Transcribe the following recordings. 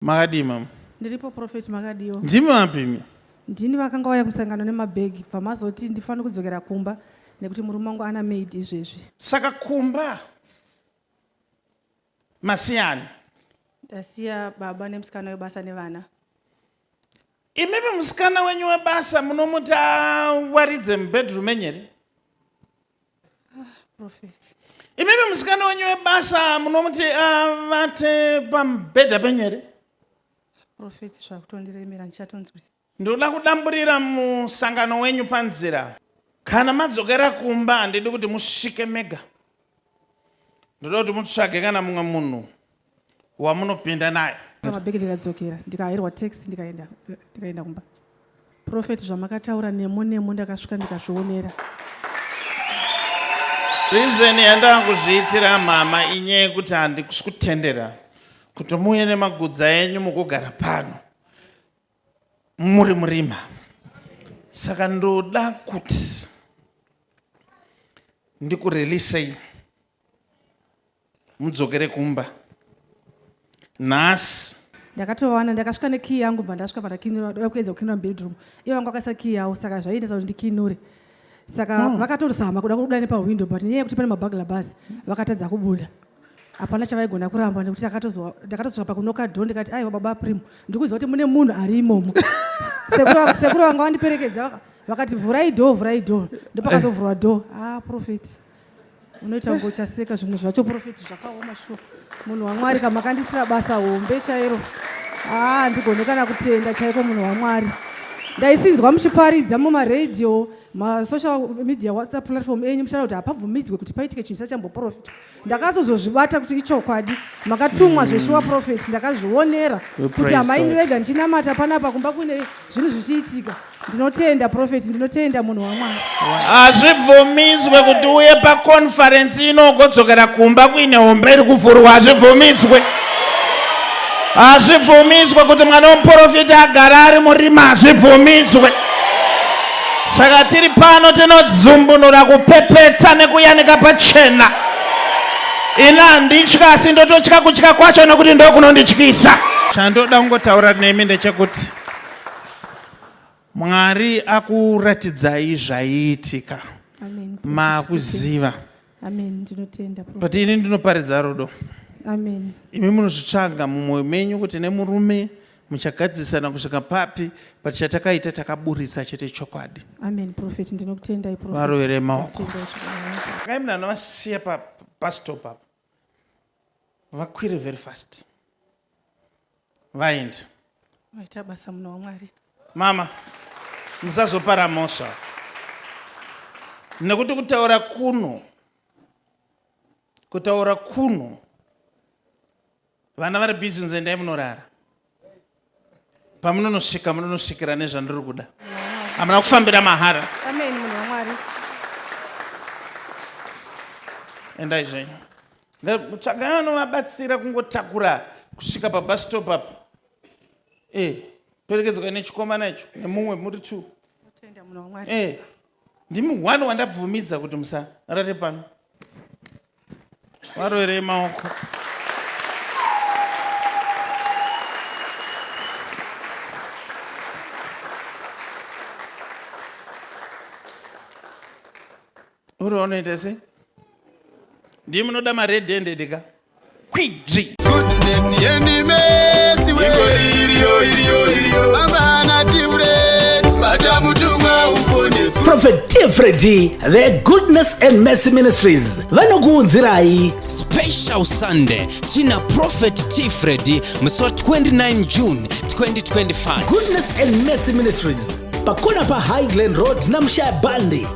Makadii mama? Ndiripo prophet makadiwo. Ndimi vapi imi? Ndini vakanga vauya kumusangano nemabhegi bva mazoti ndifanira kudzokera kumba nekuti murume wangu ana maid izvezvi. Saka kumba masiyana. Ndasiya baba nemusikana webasa nevana. Imimi musikana wenyu webasa munomuti awaridze mubedroom menyu here? Prophet. Imimi musikana wenyu webasa munomuti avate pamubhedha penyu here? Prophet zvakutondiremera ndichatonzwisisa. Ndinoda kudamburira musangano wenyu panzira. Kana madzokera kumba handidi kuti musvike mega. ndoda kuti mutsvage kana mumwe munhu wamunopinda naye pamabheki ndikadzokera ndikahairwa taxi ndikaenda ndikaenda kumba profeti zvamakataura nemo nemo ndakasvika ndikazvionera rizeni yandava kuzviitira mhama inyaya yekuti handikusi kutendera kuti muuye nemagudza enyu mukugara pano muri murima saka ndoda kuti ndikurelisei mudzokere kumba nhasi ndakatovawana ndakasvika nekiyi yangu bva ndasvika pandakinura ndoda kuedza kukinura mubedroom iye wangu akaisa kiyi yawo saka zvaiitisa kuti ndikinure saka hmm. vakatozama kuda kubuda nepahwindo but nyaya yekuti pane mabagla bus vakatadza kubuda hapana chavaigona kuramba nekuti ndakatozoka pakunoka dho ndikati aiwa baba prim ndikuziva kuti mune munhu ari imomo sekuru vanga vandiperekedza vakati vhurai dho vhurai dho ndopakazovhurwa eh. dho ah profeti unoita kunge uchaseka zvimwe zvacho profeti zvakaoma shuwa munhu wamwari kama kandiitira basa hombe chairo haa ah, ndigone kana kutenda chaiko munhu wamwari ndaisinzwa muchiparidza mumaradio masocial media whatsapp platform enyu muchitaura kuti hapabvumidzwe kuti paitike chinhu chisachamboprofita ndakatozozvibata kuti ichokwadi makatumwa zveshuwa mm. profet ndakazvionera kuti amai ndirega ndichinamata panapa kumba kune zvinhu zvichiitika ndinotenda profet ndinotenda munhu wamwari hazvibvumidzwe kuti uye pakonferensi inogodzokera kumba kuine hombe iri kuvhurwa hazvibvumidzwe hazvibvumidzwe kuti mwana wemuprofita agara ari murima hazvibvumidzwe Saka tiri pano tinodzumbunura kupepeta nekuyanika pachena. Ini handitya asi ndototya kutya kwacho nekuti ndokunondityisa. Chandoda kungotaura nemi ndechekuti Mwari akuratidzai zvaiitika makuziva Amen. Ndinotenda. But ini ndinoparidza rudo. Amen. Imi munozvitsvaga mumwoyo menyu kuti nemurume muchagadzisana kusvika papi but chatakaita takaburitsa chete chokwadi. Amen prophet ndinokutendai prophet. Varovere maoko. Kai munhu anovasiya pa bus stop apo. Vakwire very fast. vaindi vaita basa muno wamwari mama musazopara mhosva nekuti kutaura kuno kutaura kuno vana vari busy kunzi endai munorara pamunonosvika munonosvikira nezvandiri kuda hamuna kufambira mahara endai zvenyu Tsvagai vanovabatsira kungotakura kusvika pabus stop apo. Eh, perekedzwa nechikomana icho nemumwe muri two. Tenda munhu waMwari. Eh. Ndimi one wandabvumidza kuti musarare pano. Varoerei maoko. uri unoita sei ndii munoda mared handed ka kwidzi prophet tfredi the goodness and mercy ministries vanokuunzirai special sunday tina prophet tfredi musi wa 29 june 2025 goodness and mercy ministries pakona pahighland road namshaya bandi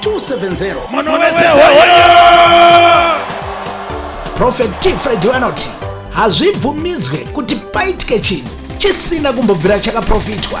270 Mono wese hoyo! prophet t fred vanoti hazvibvumidzwe kuti paitike chinhu chisina kumbobvira chakaprofitwa